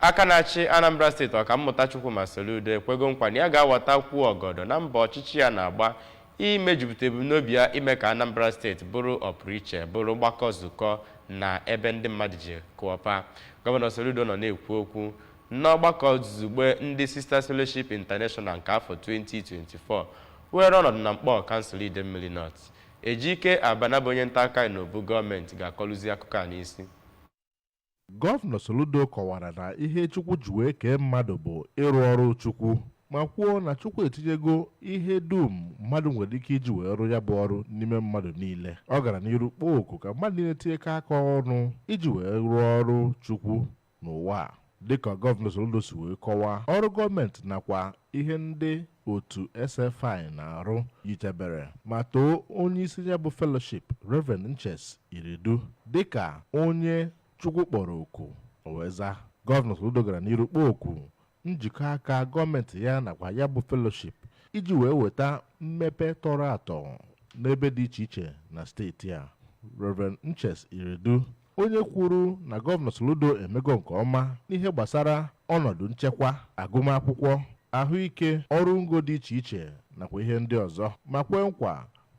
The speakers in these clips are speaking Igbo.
Aka na-achị Anambra steeti Ọkammụta Chukwuma Soludo ekwego nkwa na ya ga-awatakwuo ọgọdọ na mbọ ọchịchị ya na-agba imejupụta ebumnobi ya ime ka Anambra steeti bụrụ ọpụrụiche, bụrụ gbakọ zukọ na ebe ndị mmadụ ji kụọpa. Gọvanọ Soludo nọ na-ekwu okwu n'ọgbakọ zugbe ndị Sisters Fellowship International nke afọ 2024 weere ọnọdụ na Nkpọọ kansụl Idemmili North. Ejike Abana bụ onye ntaakụkọ anyị n'obu gọọmenti ga-akọlụzi akụkọ a n'isi. Gọvanọ Soludo kọwara na ihe Chukwu ji wee kee mmadụ bụ ịrụ ọrụ Chukwu ma kwuo na Chukwu etinyego ihe dum mmadụ nwere ike iji wee rụ ya bụ ọrụ n'ime mmadụ niile. Ọ gara n'iru kpọọ oku ka mmadụ niile tinyekọ aka ọnụ iji wee rụọ ọrụ Chukwu n'ụwa a. Dịka Gọvanọ Soludo si wee kọwaa, ọrụ gọọmenti nakwa ihe ndị otu SFI na-arụ yichebere ma too onye isi ya bụ fellowship Reverend Nches Iredu dịka onye Chukwu kpọrọ oku o wee za gọvanọ Soludo gara n'iru kpọọ oku njikọ aka gọọmenti ya nakwa ya bụ fellowship iji wee weta mmepe tọrọ atọ n'ebe dị iche iche na steeti a Reverend Nches Iredu onye kwuru na gọvanọ Soludo emego nke ọma n'ihe gbasara ọnọdụ nchekwa agụmakwụkwọ ahụike ọrụ ngo dị iche iche nakwa ihe ndị ọzọ ma kwee nkwa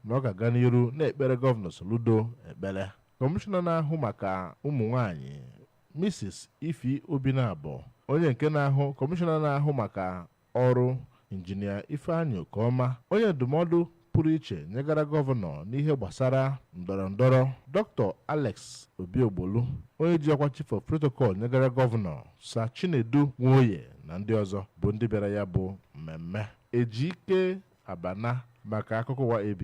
na ọ ga-aga n'iru na-ekpere gọvanọ Soludo ekpere kọmishọna na-ahụ maka ụmụ nwanyị Mrs. Ify Obinabọ onye nke na-ahụ kọmishọna na-ahụ maka ọrụ injinia Ifeanyị Okoma onye ndụmọdụ pụrụ iche nyegara gọvanọ n'ihe gbasara ndọrọ ndọrọ Dr. Alex Obiogbolu onye ji ọkwa chief of protocol nyegara gọvanọ Sir Chinedu Nwoye na ndị ọzọ bụ ndị bịara ya bụ mmemme Ejike Abana maka akụkọ ụwa ABS